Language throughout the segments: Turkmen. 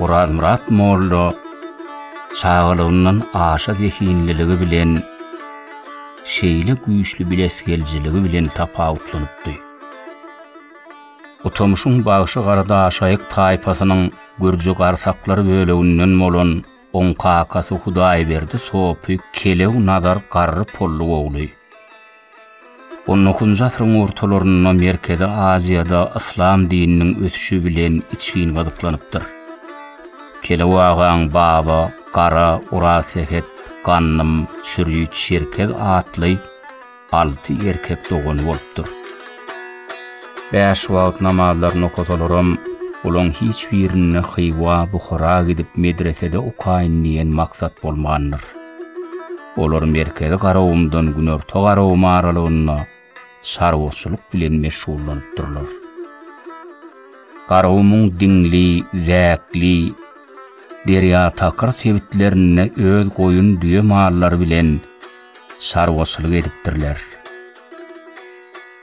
Orazmyrat molla çagalygyndan aşa zehinliligi bilen şeýle güýçli bilesigeljiligi bilen tapawutlanypdy. Utamşyň bagşy garadaşaýyk taýpasynyň gürji garsaklary böleginden bolan oň kakasy Hudaýberdi sopy kelew nazar garry pully ogly. On dokuzynjy asyryň ortalarynda Merkezi Aziýada yslam dininiň ösüşi bilen içgin gyzyklanypdyr. Kelew agaň Baba, Gara, Orasehet, Gandym, Çürýüt, Çerkez atly alty erkek dogany bolupdyr. Bäş wagt namazlaryny okasalaram, olaň hiç birinde Hywa, Buhara gidip medresede okaýyn diýen maksat bolmandyr. Olar Merkezi Garagumdan Günorta Garagum aralygynda çarwaçylyk bilen meşgullanypdyrlar. Garagumyň Diňli, Zäkli, Derýatakyr sebitlerinde öz goýun-düýe mallary bilen çarwaçylyk edipdirler.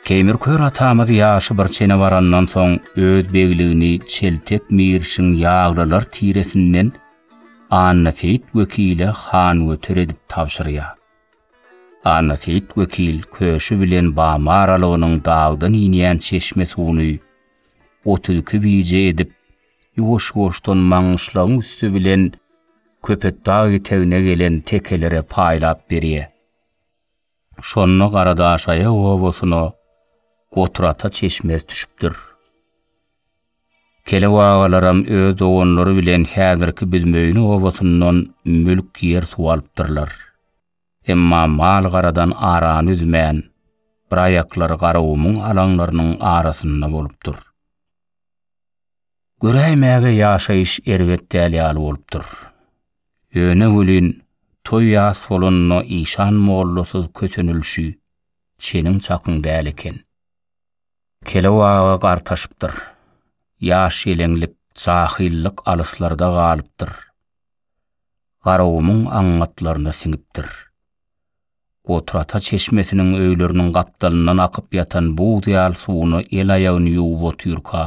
Keýmir kör atamyz ýaşy bir çene barandan soň öz begligini Çeltek Mirişiň ýaglylar tiresinden Annaseýit wekile hangöter edip tabşyrýar. Annaseýit wekil köşi bilen bama aralygynyň dagdan inýän çeşme suwuny otuz iki bije edip, ýuwaş-ýuwaşdan Maňgyşlagyň üsti bilen Köpetdag etegine gelen tekelere paýlap berýär. Şonda Garadaşaýag obasyna Goturata çeşmesi düşüpdir. Kelew agalaram öz doganlary bilen häzirki Büzmeýine obasyndan mülk ýer suw alypdyrlar. Emma mal-garadan arany üzmän, bir aýaklary Garagumuň alaňlarynyň arasynda bolupdyr. Göräýmäge ýaşaýyş erbet däl ýaly bolupdyr. Ýöne welin, toý ýas bolanda işan mollasyz kösenilişi çeniň-çakyň däl eken. Kelew aga gartaşypdyr. Ýaş-ýeleňlik, jahyllyk alyslarda galypdyr. Garagumuň aňňatlaryna siňipdir. Gotrata çeşmesiniň öýleriniň gapdalyndan akyp ýatan buz ýaly suwuna el-aýagyny ýuwup otyrka,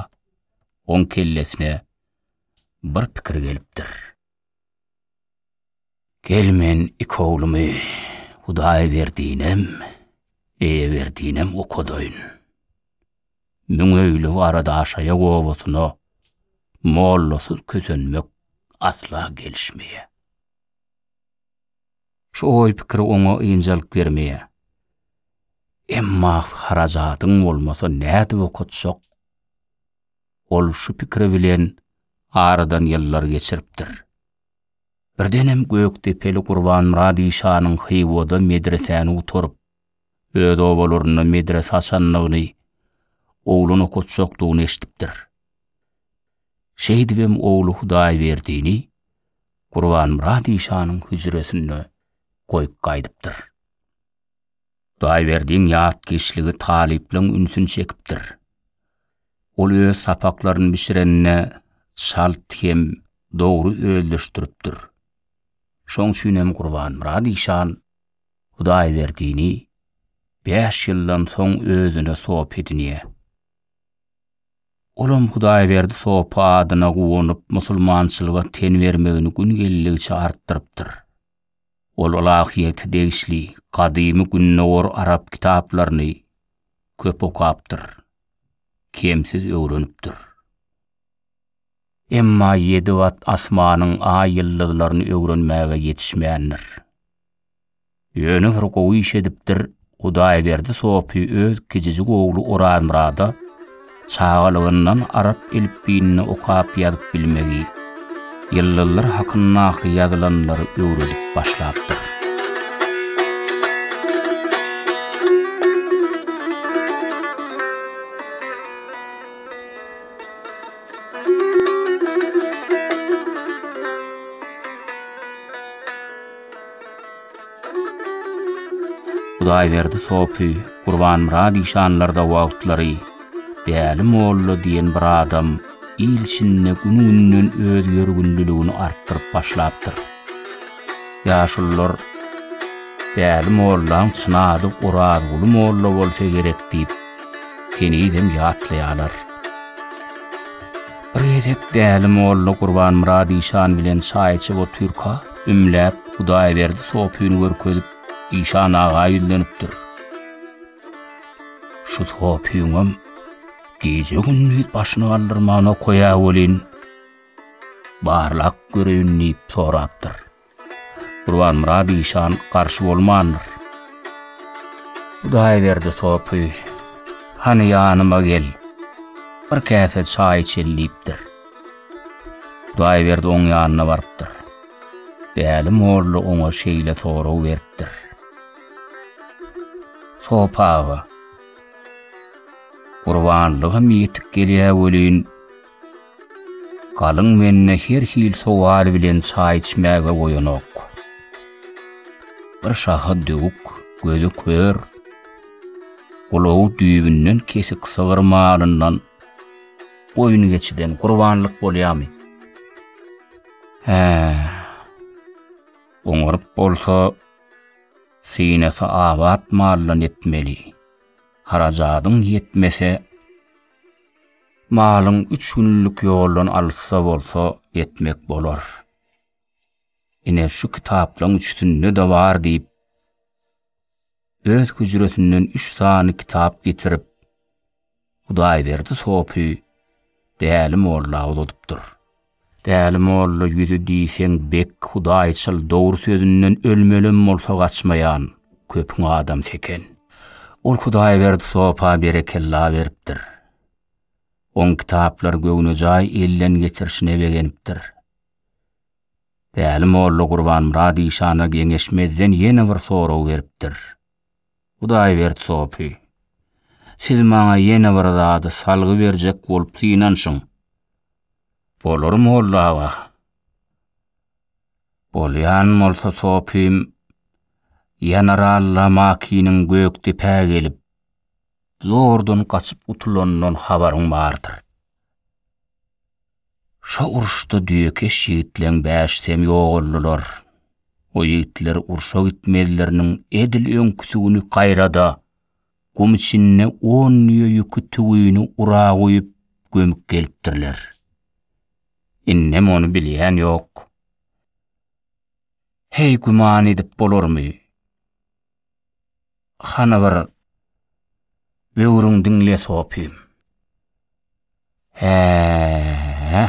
oň kellesine bir pikir gelipdir. Gel men iki oglumy Hudaýberdinem, Eýeberdinem okadaýyn. Müňöýli Garadaşaýak obasyna mollasyz kösenmek asla gelişmeýär. Şu oý-pikir oňa ynjalyk bermeýär. Emma harajadyň bolmasa nädip okatjak? Ol şu pikiri bilen aradan ýyllar geçiripdir. Birdenem gökdepeli Gurbanmyrat işanyň Hywoda medresäni gutaryp, öz obalarynda medrese açandygyny, oglan okatjakdygyny eşidipdir. Şeýdibem ogly Hudaýberdini Gurbanmyrat işanyň hüjresinde goýup gaýdypdyr. Daýberdiň ýatkeşligi talyplaryň ünsüni çekipdir. Ol öz sapaklaryny bişirende çalt hem dogry özleşdiripdir. Şoň üçin hem Gurbanmyrat işan Hudaýberdini bäş ýyldan soň özüne sop edinýär. Olam Hudaýberdi sopy adyna guwanyp, musulmançylyga ten bermegini gün geldigiçe artdyrypdyr. Ol ylahyýete degişli gadymy Gündogar arap kitaplaryny köp okapdyr, kemsiz öwrenipdir. Emma ýedi gat asmanyň aý-ýyldyzlaryny öwrenmäge ýetişmändir. Ýöne bir gowy iş edipdir, Hudaýberdi sopy öz kiçijik ogly Orazmyrada çagalygyndan arap elipbiýini okap-ýazyp bilmegi, ýyldyzlar hakyndaky ýazylanlary öwredip başlapdyr. Hudaýberdi sopy, Gurbanmyrat işanlarda wagtlary Däli molla diýen bir adam il içinde gün-günden öz ýörgünliligini artdyryp başlapdyr. Ýaşulular Däli mollaň çyn ady Orazguly molla bolsa gerek diýip, henizem ýatlaýarlar. Bir gezek Däli molla Gurbanmyrat işan bilen çaý içip otyrka, Ümläp, Hudaýberdi sopyny görkezip, işan aga ýüzlenipdir. Şu sopyňam gije-gündiz başyny galdyrmana koýa welin, barlap göreýin diýip sorapdyr. Gurbanmyrat işan garşy bolmandyr. Hudaýberdi sopy, Hany ýanyma gel, bir käse çaý içeli diýipdir. Hudaýberdi oň ýanyna barypdyr. Däli molla oňa şeýle sorag beripdir. Sop aga, gurbanlygym ýetik gelýä welin, galyň mende her hil sowal bilen çaý içmäge goýanok. Bir şahy döwük, gözi kör, gulagy düýbünden kesik sygyr malyndan, Goýun geçiden gurbanlyk bolýamy? Hä. Oňaryp bolsa, synasy abat maldan etmeli. Harajadyň ýetmese, malyň üç günlük ýoldan alysda bolsa etmek bolar. Ine şu kitaplaň üçüsinde-de bar diýip, öz hüjresinden üç sany kitap getirip, Hudaýberdi sopy Däli molla uzadypdyr. Däli molla ýüzi diýseň bek hudaýçyl dogry sözünden ölmelem bolsa gaçmaýan köpüň adamsy eken. Ol Hudaýberdi sopa berekella beripdir. Oň kitaplary göwnejaý elden geçirişine begenipdir. Däli molla Gurbanmyrat işana geňeşmezden ýene bir sorag beripdir. Hudaýberdi sopy, siz maňa ýene bir zady salgy berjek bolup synanşyň. Bolar molla aga. Bolýan bolsa sopym, Ýanar Alla Makiniň Gökdepä gelip, zordan gaçyp gutulanyndan habaryň bardyr. Şo uruşda düýekeş ýigitleň bäşisem ýogaldylar. O ýigitler urşa gitmezleriniň edil öňküsi güni gaýrada, gum içinde on düýe ýüki tüwini ura guýup, gömüp gelipdirler. Indem ony bilýän ýok. Heý, güman edip bolarmy? Hany bir böwrüň diňle sopym. Hä-ä-ä.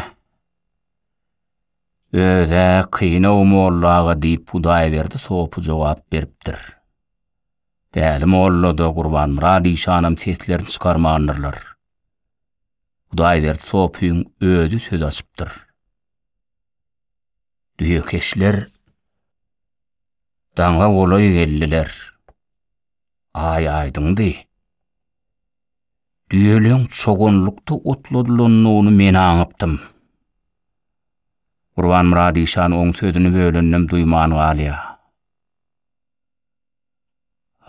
Öz-ä kyn-ow molla aga diýip Hudaýberdi sopy jogap beripdir. Däli molla-da, Gurbanmyrat işanam seslerini çykarmandyrlar. Hudaýberdi sopyň özi söz açypdyr. Düýekeşler daňa golaý geldiler. Aý aýdyňdy. Düýeleň çoganlykda otladylanyny men aňypdym. Gurbanmyrat işan oň sözüni bölenem duýman galýa.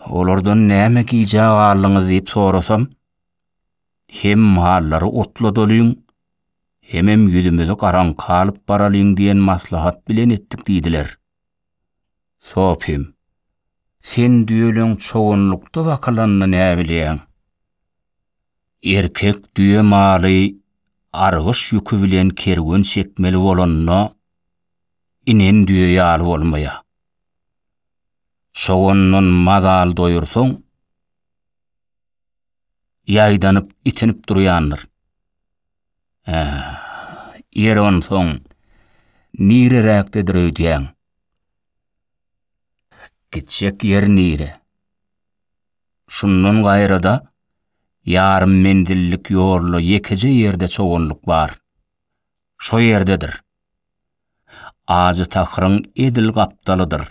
Olardan näme gijä galdyňyz diýip sorasam, Hem mallary otla dolyň, hemem ýüzümizi garaňka alyp baralyň diýen maslahat bilen etdik diýdiler. Sopym, Sen düýeleň çoganlykda bakylanyny näbilýäň? Erkek düýe maly argyş ýüki bilen kerwen çekmeli bolanda, inen düýe ýaly bolmaýar. Çogandan mazal doýursaň, ýaýdanyp, itinip durýandyr. Ä, ýeri onsoň, nireräkdedir öýdýäň? Gitjek ýer nire? Şundan gaýra-da, ýarym menzillik ýolda ýekeje ýerde çoganlyk bar. Şo ýerdedir. Ajy tahyryň edil gapdalydyr.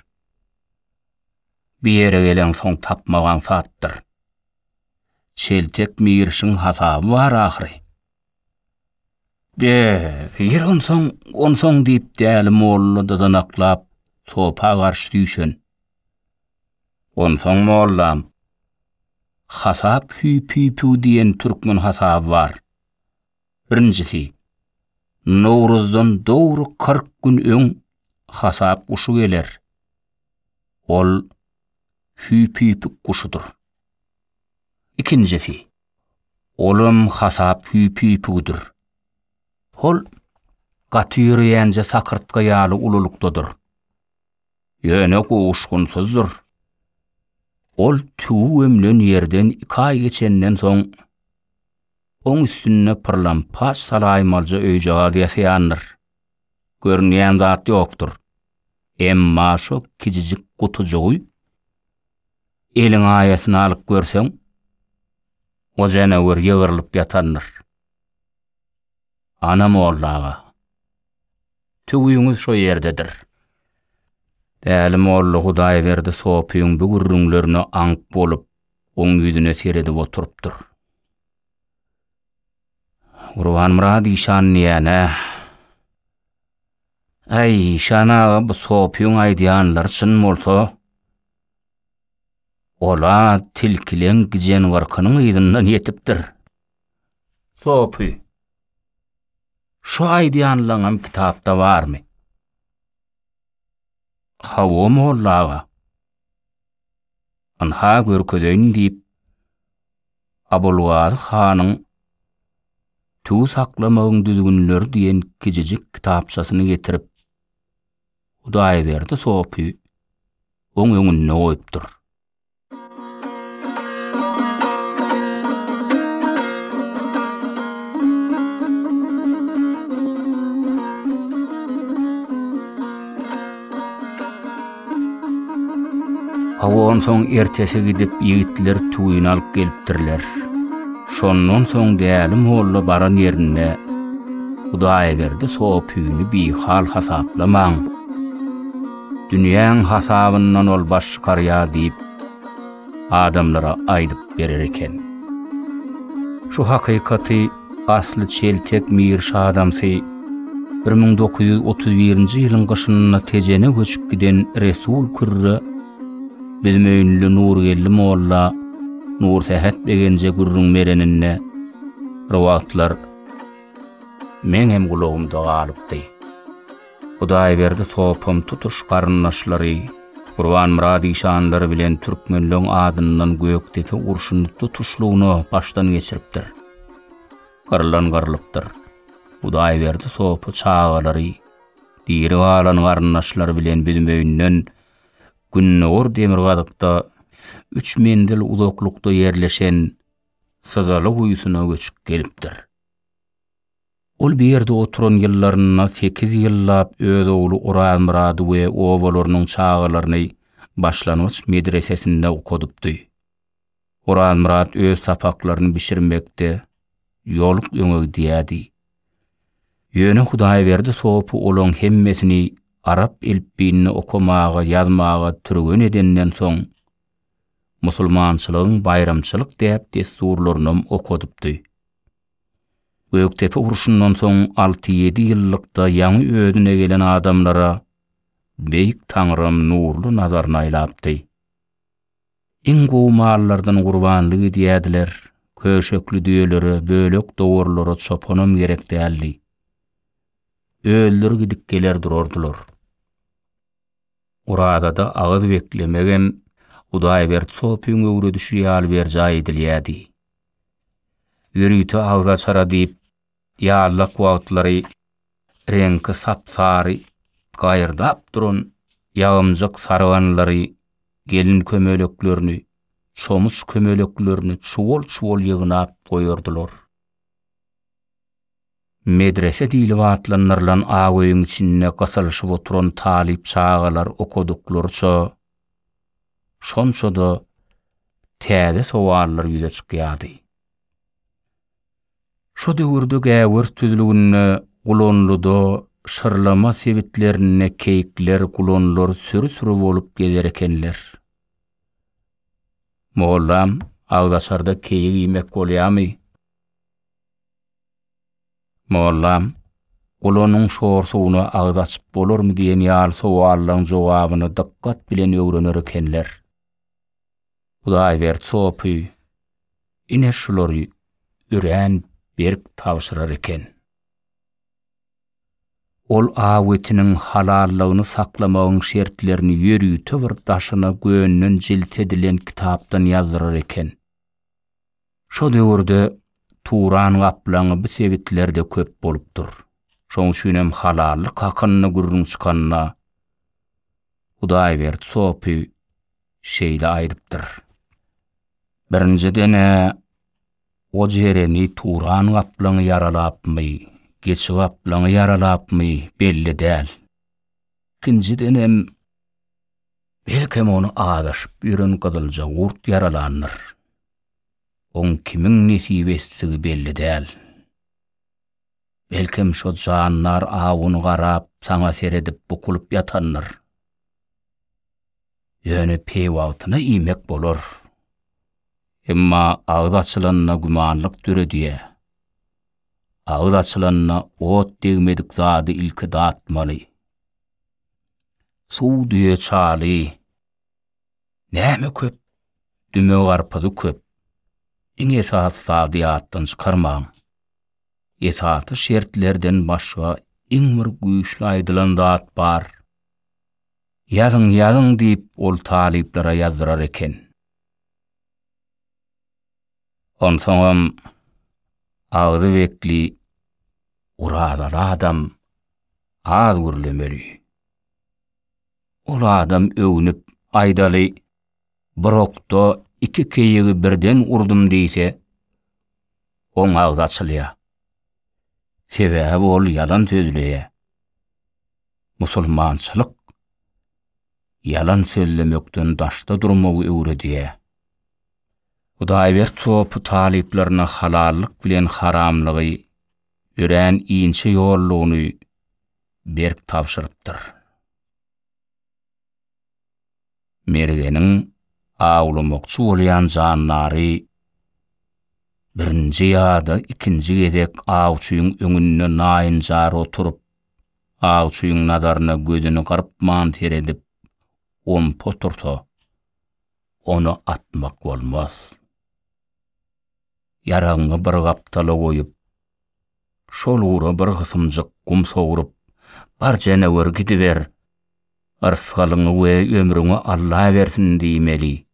Bir ýere geleňsoň tapmak aňsatdyr. Çeltek mirişiň hasaby bar ahyry. Be, ýeri onsoň, onsoň diýip Däli molla dyzanaklap topa garşy süýşen. Onsoň mollam, Hasap hüýp-hüýp-üw diýen türkmen hasaby bar. Birinjisi, Nowruzdan dogry kyrk gün öň hasap guşy geler. Ol hüýpüýpük guşudyr. Ikinjisi, olam hasap hüýpüýpügidir. Ol gaty ýöreýänje sakyrtga ýaly ululykdadyr. Ýöne gowuşgynsyzdyr. Ol tüwi gömlen ýerden iki aý geçenden soň, Oň üstünde pyrlampaç salaýmalja öýjagaz ýasaýandyr. Görünýän zat ýokdur. Emma şo kijijik gutujygy eliň aýasyna alyp görseň, o janawar ýygrylyp ýatandyr. Ana molla aga. Tüwüňiz şo ýerdedir. Däli molla Hudaýberdi sopyň bu gürrüňlerine aňk bolup, Oň ýüzüne seredip oturypdyr. Gurbanmyrat işan diýýän-ä. Äý, işan aga, bu sopyň aýdýanlary çyn bolsa, ol-a tilkileň gijengarkynyň yzyndan ýetipdir. Sopy, şu aýdýanlaňam kitapda barmy? Hawa, molla aga. Ynha görkezeýin diýip, Abulgazy hanyň Tüwi saklamagyň düzgünleri diýen kiçijik kitapçasyny getirip, Hudaýberdi sopy oň öňünde goýupdyr. Hawa onsoň ertesi gidip ýigitler tüwini alyp gelipdirler. Şondan soň Däli molla baran ýerinde Hudaýberdi sopyny bihal hasaplamaň, dünýäň hasabyndan ol baş çykarýar diýip, adamlara aýdyp berer eken. Şu hakykaty asly çeltek mir şa adamsy. Bir müň dokuz ýüz otuz birinji ýylyň gyşynda Tejene göçüp giden Resul Kürre Büzmeýinli Nurgeldi molla Nursähet begenje gürrüň bereninde, Bir wagtlar meňem gulagymda galypdy. Hudaýberdi Sopam tutuş garyndaşlary, Gurbanmyrat işanlary bilen türkmenleň adyndan Gökdepe urşuny tutuşlygyna başdan geçiripdir. Gyrlan gyrlypdyr. Hudaýberdi Sopy çagalary, diri galan garyndaşlary bilen Büzmeýinden gündogar demirgazykda üç menzil uzaklykda ýerleşen Syzaly guýusyna göçüp gelipdir. Ol bu ýerde oturan ýyllarynda sekiz ýyllap öz ogly Orazmyrady we obalarynyň çagalaryny başlangyç medresesinde okadypdy. Orazmyrat öz sapaklaryny bişirmekde ýolup öňe gidýärdi. Ýöne Hudaýberdi sopy olaň hemmesini arap elipbiýinde okamaga, ýazmaga türgen edenden soň, musulmançylygyň baýramçylyk däp-dessurlarynam okadypdy. Gökdepe urşundan soň alty-ýedi ýyllykda ýaňy özüne gelen adamlara Beýik Taňrym nurly nazaryny aýlapdy. Iň gowy mallardan gurbanlyk edýärdiler, köşekli düýelere, bölek-dowarlara çopanam gerek däldi. Özleri gidip geler durardylar. Orazada agyz beklemegem Hudaýberdi sopyň öwredişi ýaly berjaý edilýärdi. Ýörite agzaçara diýip, ýazlyk wagtlary reňki sap-sary gaýyrdap duran ýagymjyk sarganlary, gelin kömeleklerini, çomuç kömeleklerini çuwal-çuwal ýygnap goýardylar. Medrese diýlip atlandyrylan ak öýüň içinde gysylyşyp oturan talyp çagalar okadyklaryça, şonça-da täze sowallar ýüze çykýardy. Şo döwürde Gäwers düzlüginde, Gulanlyda, Şyrlama sebitlerinde keýikler, gulanlar süri-süri bolup gezer ekenler. Mollam, agzaçarda keýik iýmek bolýamy? Mollam, Gulanyň şor suwuna agyz açyp bolarmy diýen ýaly sowallaryň jogabyny dykgat bilen öwrener ekenler. Hudaýberdi sopy ine şulary örän berk tabşyrar eken. Ol aw etiniň halallygyny saklamagyň şertlerini ýörite bir daşyna gönden jilt edilen kitapdan ýazdyrar eken. Şo döwürde Turan gaplaňy bu sebitlerde köp bolupdyr. Şoň üçin hem halallyk hakynda gürrüň çykanda Hudaýberdi sopy şeýle aýdypdyr. Birinjiden-ä oj ereni Turan gaplaňy ýaralapmy, geçi gaplaňy ýaralapmy belli däl. Ikinjiden hem. Belkem ony azaşyp ýören gyzylja gurt ýaralandyr. Oň kimiň nesip etdigi belli däl. Belkem şo jandar awun garap saňa seredip bukulyp ýatandyr. Ýöne peýwagtyna iýmek bolar. Emma agyz açylanda gümanlyk döredýä. Agyz açylanda ot degmedik zady ilki datmaly. Suw düýe çaly. Näme köp? Düme garpyzy köp. Iň esasy zady ýatdan çykarmaň. Esasy şertlerden başga iň bir güýçli aýdylan zat bar. Ýazyň, ýazyň diýip ol talyplara ýazdyrar eken. Onsoňam agzy bekli Orazaly adam az gürlemeli. Ol adam öwnüp aýdaly bir okda iki keýigi birden urdum diýse, oň agzy açylýar. Sebäbi ol ýalan sözleýär. Musulmançylyk ýalan sözlemekden daşda durmagy öwredýär. Hudaýbert sopy talyplaryna halallyk bilen haramlygy, örän inçe ýollugyny berk tabşyrypdyr. Mergeniň awlamakçy bolýan jandary birinji ýa-da ikinji gezek awçyň öňünde naýynjar oturyp, awçyň nazaryna gözüni gyrpman seredip, ompa otursa, Ony atmak bolmaz. Ýaragyňy bir gapdala goýup, şol ugra bir gysymjyk gum sogrup, bar jeneweri gidiber, yrsgalyňy we ömrüňi Alla bersin diýmeli.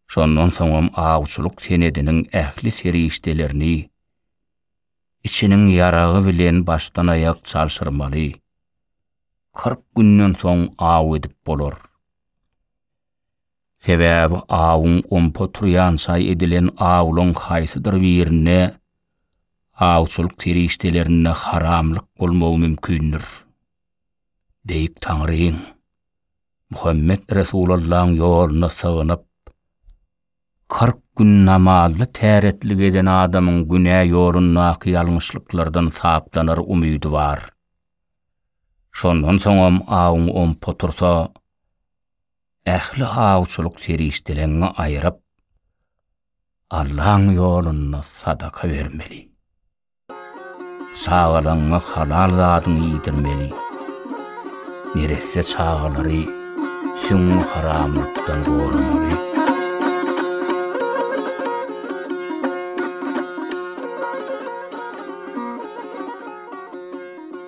Şondan soňam awçylyk senediniň ähli serişdelerini içiniň ýaragy bilen başdan-aýak çalşyrmaly. Kyrk günden soň aw edip bolar. Sebäbi awuň ompa turýançaý edilen awlaryň haýsydyr birinde awçylyk serişdelerinde haramlyk bolmagy mümkindir. Beýik Taňryň, Muhammet Resulallaň ýoluna sygynyp, kyrk gün namazly täretlik eden adamyň günä ýolundaky ýalňyşlyklardan saplanar umydy bar. Şondan soňam awuň ompa tursa, Ähli awçylyk serişdeleňňi aýyryp, Allaň ýolunda sadaka bermeli. Çagalaňňa halal zadyňy iýdirmeli. Neresse çagalary süňňi haramlykdan goramaly.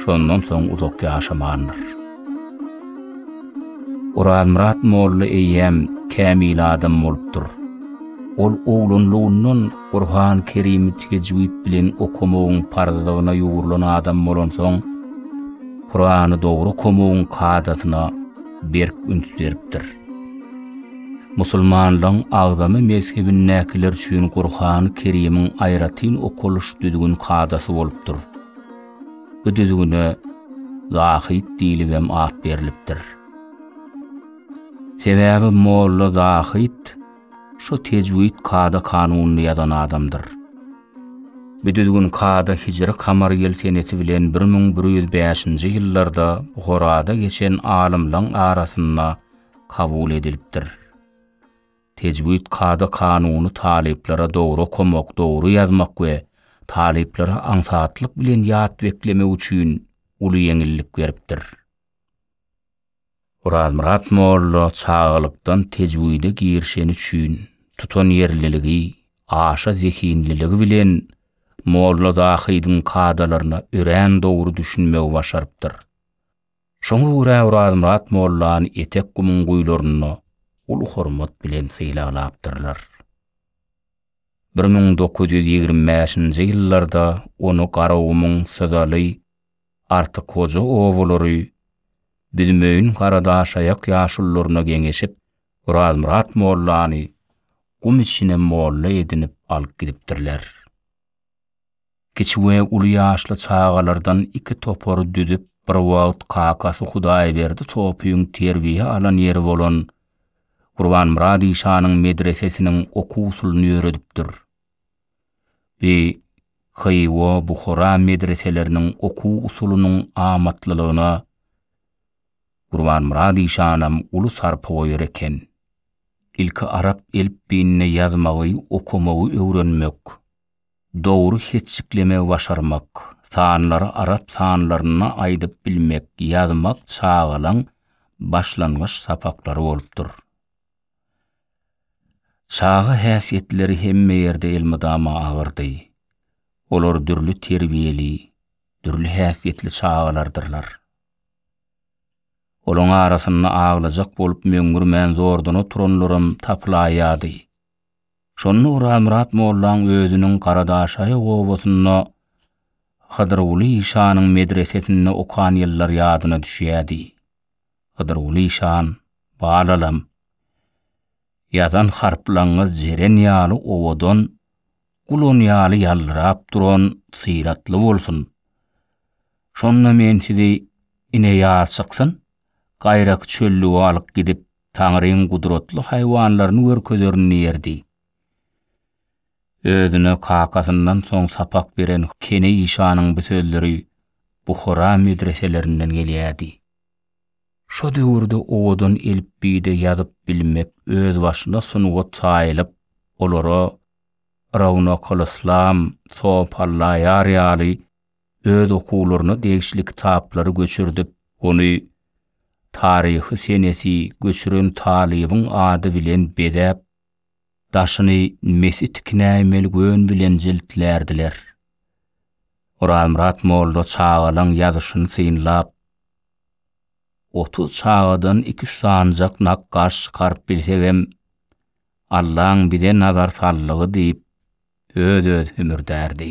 şondan soň uzak ýaşamandyr. Orazmyrat molla eýýäm kämil adam bolupdyr. Ol oglanlygyndan Gurhan-Kerimi tejwid bilen okamagyň parzlygyna ýugrulan adam bolansoň, Kurany dogry okamagyň kadasyna berk üns beripdir. Musulmanlygyň agzamy mezhebindäkiler üçin Gurhan-Kerimiň aýratyn okalyş düzgün-kadasy bolupdyr. Bu düzgüne Zahid diýlibem at berlipdir. Sebäbi molla Zahid şu tejwid kada kanunyny ýazan adamdyr. Bu düzgün kada hijri kamar ýyl senesi bilen 1105-nji ýyllarda Buharada geçen alymlaň arasynda kabul edilipdir. Tejwid kada-kanuny talyplara dogry okamak, dogry ýazmak we talyplara aňsatlyk bilen ýat beklemek üçin uly ýeňillik beripdir. Orazmyrat molla çagalykdan tejwide girişeni üçin tutanýerliligi, aşa zehinliligi bilen Molla Zahydyň kadalaryna örän dogry düşünmegi başarypdyr. Şoňa görä Orazmyrat mollany etek gumuň guýularynda uly hormat bilen sylaglapdyrlar. Bir müň dokuz ýüz ýigrimi bäşinji ýyllarda ony Garagumuň, Syzaly, Artyk Hoja obalary Büzmeýin Garadaşaýak ýaşulularyna geňeşip, Orazmyrat mollany gum içine molla edinip alyp gidipdirler. Kiçi we uly ýaşly çagalardan iki topary düzüp, bir wagt kakasy Hudaýberdi Topyň terbiýe alan ýeri bolan Gurbanmyrat işanyň medresesiniň okuw-usulyny ýöredipdir. Bi Hywa, Buhara medreseleriniň okuw-usulynyň amatlylygyna Gurbanmyrat işanam uly sarpa goýar eken. Ilki arap elipbiýinde ýazmagy, okamagy öwrenmek. Dogry hetjiklemegi başarmak, sanlary arap sanlaryna aýdyp bilmek, ýazmak çagalaň başlangyç sapaklary bolupdyr. Çaga häsiýetleri hemme ýerde elmydama agyrdy. Olar dürli terbiýeli, dürli häsiýetli çagalardyrlar. Olaň arasynda aglajak bolup möňňürmän zordan oturanlaram tapylaýýady. Şonda Orazmyrat mollaň özüniň Garadaşaýaw obasynda Hydyrguly işanyň medresesinde okan ýyllary ýadyna düşýärdi. Hydyrguly işan, Balalam, ýazan harplaňyz jeren ýaly owadan, gulan ýaly ýaldyrap duran, syratly bolsun. Şonda men sizi ine ýaz çyksyn, gaýraky çöllüge alyp gidip, Taňryň gudratly haýwanlaryny görkezerin diýerdi. Özüne kakasyndan soň sapak beren Kene işanyň bu sözleri Buhara medreselerinden gelýärdi. Şo döwürde owadan elipbiýde ýazyp bilmek özbaşyna sungat saýylyp, olara Rawnakylyslam, Sopallaýar ýaly öz okuwlaryna degişli kitaplary göçürdip, ony Taryhy senesi göçüren talybyň ady bilen bezäp, daşyny mesi tikinäýmeli gön bilen jiltlärdiler. Orazmyrat molla çagalaň ýazyşyny synlap, Otuz çagadan iki-üç sanjak nakgaş çykaryp bilsegem, Allaň bize nazar saldygy diýip, öz-özi hümürdärdi.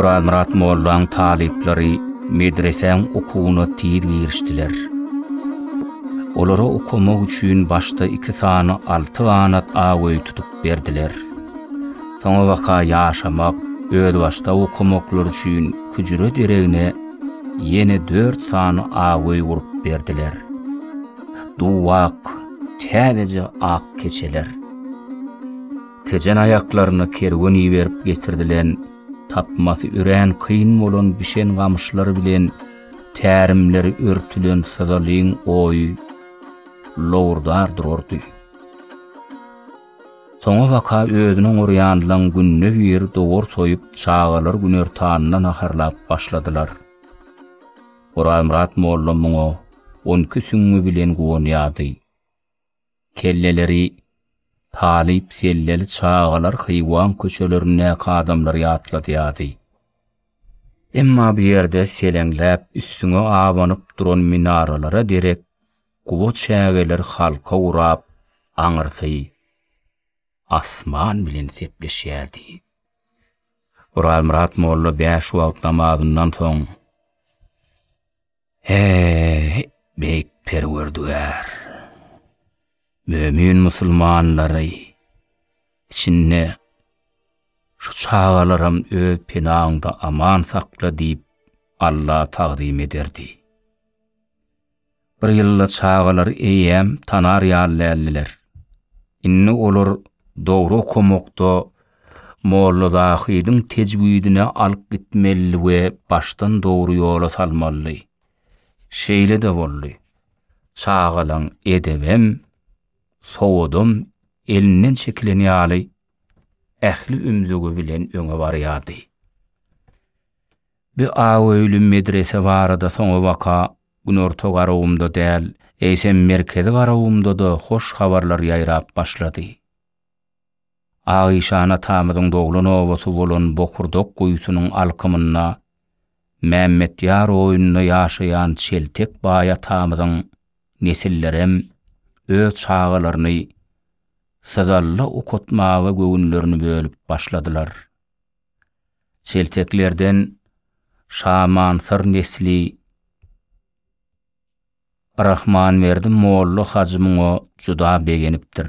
Orazmyrat mollaň talyplary medresäň okuwyna tiz girişdiler. Olara okamak üçin başda iki sany alty ganat ak öý tutup berdiler. Soňabaka ýaşamak, özbaşdak okamaklary üçin küjre deregine ýene dört sany ak öý gurup berdiler. Duwak, täzeje ak keçeler. Tejen aýaklaryna kerwen iberip getirdilen tapmasy örän kyn bolan bişen gamyşlar bilen tärimleri örtülen syzalyň oýy lowurdar durardy. Soňa waka özüniň urýanlaň günde bir dowar soýup çagalar günertanyna naharlap başladylar. Orazmyrat molla muňa on iki süňňi bilen guwanýardy. Kelleleri talyp selleli çagalar Hywan köçelerindäki adamlary ýatladýardy. Emma bu ýerde seleňläp, üstüňe abanyp duran minaralara derek guba çägeler halka gurap, aňyrsy asman bilen sepleşýärdi. Orazmyrat molla bäş wagt namazyndan soň, Eý, Beýik Perwerdigär! Mömin musulmanlary, içinde şu çagalaram öz penaňda aman sakla diýip, Alla tagzym ederdi. Bir ýylda çagalary eýýäm tanar ýaly däldiler. Indi olar dogry okamakda Molla Zahydyň tejwidine alyp gitmelidi we başdan dogry ýola salmalydy. Şeýle-de boldy. Çagalaň edebem, sowadam elinden çekilen ýaly ähli ümzügi bilen öňe barýardy. Bi aöýli medrese barada soňabaka Günorta garawumda däl, eýsem merkezi garawumda-da hoş habarlar ýaýrap başlady. Agyşan atamyzyň doglan obasy bolan Bokurdak guýusynyň alkymynda Mämmetýar oýunda ýaşaýan Çeltek baý atamyzyň nesillerem öz çagalaryny Syzalla okatmaga göwünlerini bölüp başladylar. Çelteklerden Şamansyr nesli Rahmanberdi molla hajy muňa juda begenipdir.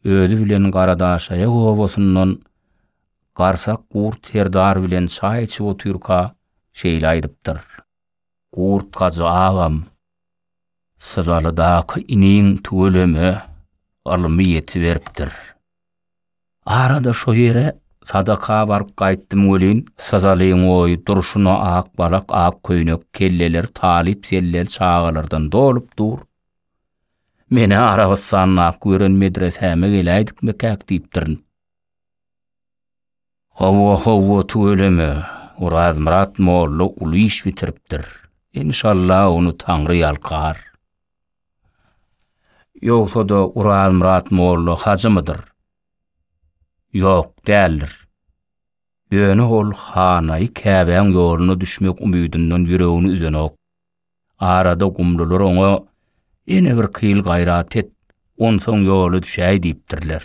Özi bilen Garadaşaýak obasyndan Garsak Gurt serdar bilen çaý içip otyrka şeýle aýdypdyr. Gurt hajy agam, Syzalydaky iniň tüweleme ylmy ýetiberipdir. Arada şo ýere sadaka baryp gaýtdym welin, syzalyň oýy durşuna ak balak, ak köýnek, kelleler talyp-sellel çagalardan dolup dur. Men-ä Arabystandaky gören medresäme geläýdikmikäk diýipdirin. Howwa howwa tüweleme Orazmyrat molla uly iş bitiripdir enşalla ony taňry ýalkar. Ýogsada Orazmyrat molla hajymydyr? Ýok däldir. Ýöne ol Hanaýy Käbäň ýoluna düşmek umydyndan ýüregini üzenok. Arada gumlular oňa, Ene bir kyl gaýrat et, onsoň ýola düşäý diýipdirler.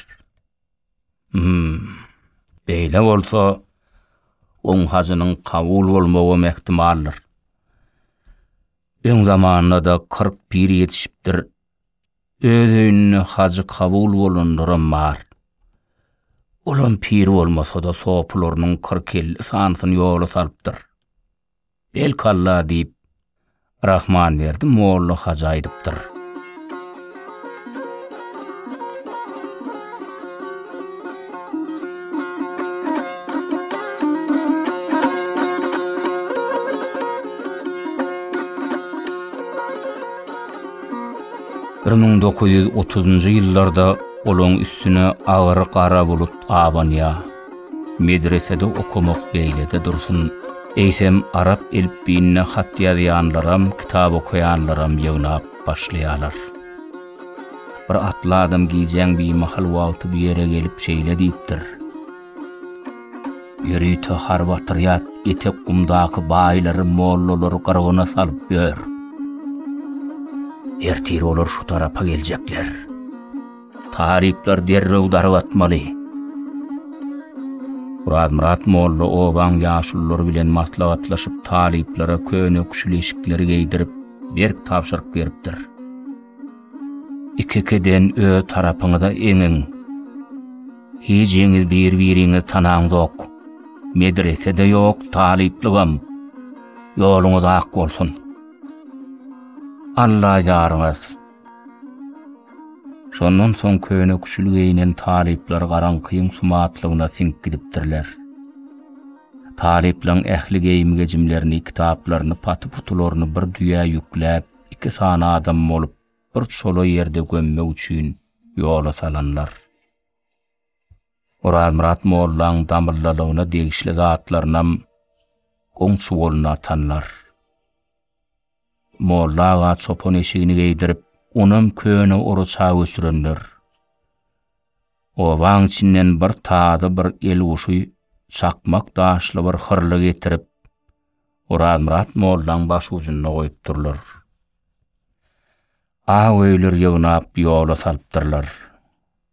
Hum, beýle bolsa, oň hajynyň kabul bolmagam ähtimaldyr. Öň zamanda-da kyrk pir ýetişipdir, öz öýünde hajy kabul bolanlaram bar. Olam pir bolmasa-da, sopularynyň kyrk-elli sanysyny ýola salypdyr. Belkalla diýip, Rahmanberdi molla hajy aýdypdyr. Bir müň dokuz ýüz otuzynjy ýyllarda olaň üstüne agyr gara bulut abanýar. Medresede okamak beýlede dursun, eýsem arap elipbiýinde hat ýazýanlaram, kitap okaýanlaram ýygnap başlaýarlar. Bir atly adam gijäň bimahal wagty bu ýere gelip şeýle diýipdir, Ýörite harby otrýad etek gumdaky baýlary, mollalary gyrgyna salyp ýör. Ertir olar şu tarapa geljekler. Talyplar derrew darg atmaly. Myrat molla obaň ýaşululary bilen maslahatlaşyp talyplara köne küşlişikleri geýdirip berk tabşyryk beripdir. Ikikiden öz tarapyňyza eňiň. Hijiňiz bir-biriňiz tanaňzok. Medrese-de ýok, talyplygam. Ýoluňyz ak bolsun. Alla ýaryňyz. Şondan soň köne küşül geýnen talyplar garaňkyň sumatlygyna siňip gidipdirler. Talyplaryň ähli geýim-gejimlerini, kitaplaryny, paty-putularyny bir düýä ýükläp, iki sany adam bolup, bir çola ýerde gömmek üçin ýola salanlar. Orazmyrat mollaň damyllalygyna degişli zatlarynam goňşy goluna atanlar. Molla aga çopan eşigini geýdirip, onam köne oraça göçürendir. Obaň içinden bir tazy bir el guşy çakmak daşly bir hyrly getirip, Orazmyrat mollaň başujunda goýupdyrlar. Awöýler ýygnap ýola salypdyrlar.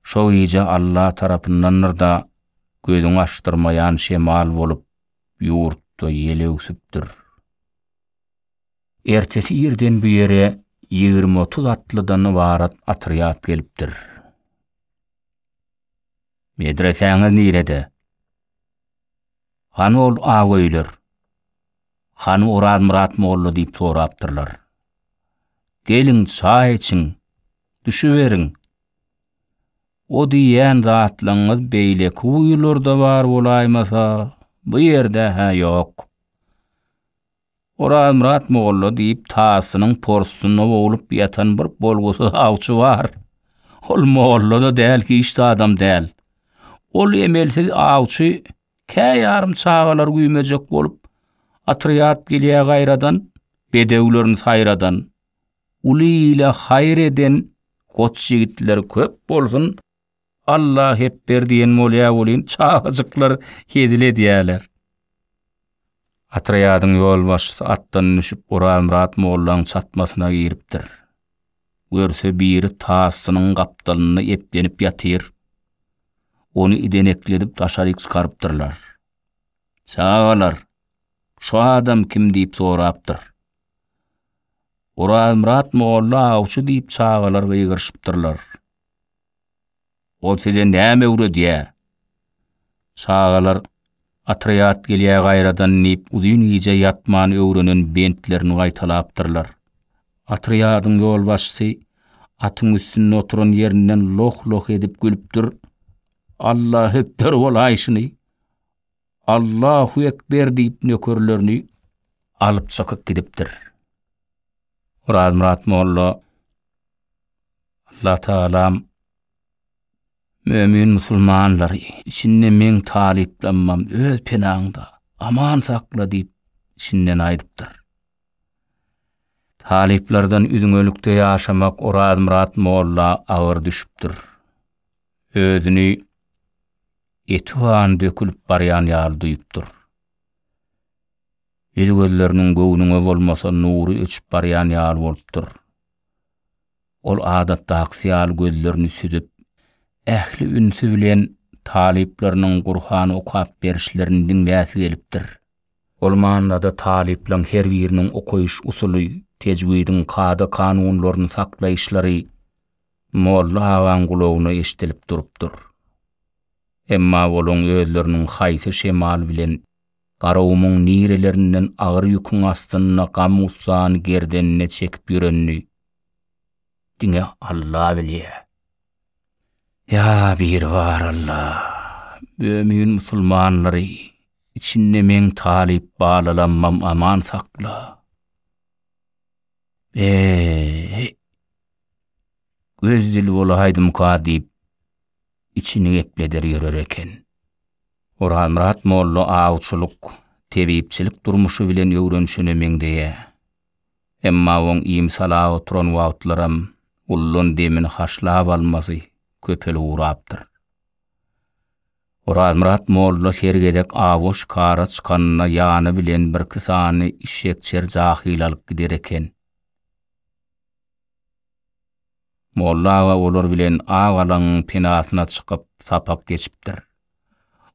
Şo gije Alla tarapyndandyr-da, gözüňi açdyrmaýan şemal bolup, ýurtda ýel öwsüpdir. Ertesi irden bu ýere ýigrimi-otuz atlydan ybarat otrýad gelipdir. Medresäňiz nirede? Hany ol ak öýler? Hany Orazmyrat molla diýip sorapdyrlar. Geliň, çaý içiň, düşüberiň. O diýýän zatlaryňyz beýleki guýularda bar bolaýmasa, bu ýerde-hä ýok. Orazmyrat molla diýip tasynyň porsunda boglup ýatan bir bolgusyz awçy bar. Ol molla-da däl, hiç zadam däl. Ol emelsiz awçy kä ýarym çagalar güýmejek bolup otrýad gelýä gaýradan, bedewlerini saýradan. Uly ile haýyr eden goç ýigitler köp bolsun, Alla hepber diýen bolýa welin çagajyklar hezil edýäler. Atrýadyň ýolbaşçysy atdan düşüp Orazmyrat mollaň çatmasyna giripdir. Görse biri tasynyň gapdalynda eplenip ýatyr. Ony idenekledip daşaryk çykarypdyrlar. Çagalar, şu adam kim diýip sorapdyr. Orazmyrat molla awçy diýip çagalar gygyryşypdyrlar. Ol size näme öwredýä? Çagalar, Otrýad gelýä gaýradan diýip uzyn gije ýatman öwrenen bentlerini gaýtalapdyrlar. Otrýadyň ýolbaşçysy atyň üstünde oturan ýerinden loh-loh edip gülüpdir. Alla hötder bolaýşyny! Allahu ekber diýip nökerlerini alyp çykyp gidipdir. Orazmyrat molla Allah talam Mömin musulmanlary, içinde meň talyplanmam öz penaňda aman sakla diýip içinden aýdypdyr. Talyplardan üzňelikde ýaşamak Orazmyrat molla agyr düşüpdir. Özüni eti gan dökülip barýan ýaly duýup dur. Ýüz gözleriniň göwnüňe bolmasa nury öçüp barýan ýaly bolup dur. Ol adatdakysy ýaly gözlerini süzüp, ähli ünsi bilen talyplarynyň Gurhan okap berişlerini diňläsi gelipdir. Ol manyda talyplaň her biriniň okaýyş usuly, tejwidiň kada-kanunlaryny saklaýyşlary Molla agaň gulagyna eşidilip durupdyr. Emma olaň özleriniň haýsy şemal bilen Garagumuň nirelerinden agyr ýüküň astynda gam-gussany gerdenine çekip ýörenini diňe Alla bilýär. Ýa Biribar Alla, mömin musulmanlary, içinde meň talyp balalammam aman sakla. Be-e-e! Öz dili bolaýdymyka diýip, içini gepleder ýörer eken. Orazmyrat molla awçylyk, tebipçilik durmuşy bilen öwrenişene meňzeýär. Emma oň iým salap oturan wagtlaram guldan demini haşlap almasy köpelip ugrapdyr. Orazmyrat molla her gezek awa şikara çykanda ýany bilen birki sany işşekçer jahyl alyp gider eken. Molla aga olar bilen Ak alaňyň penasyna çykyp sapak geçipdir.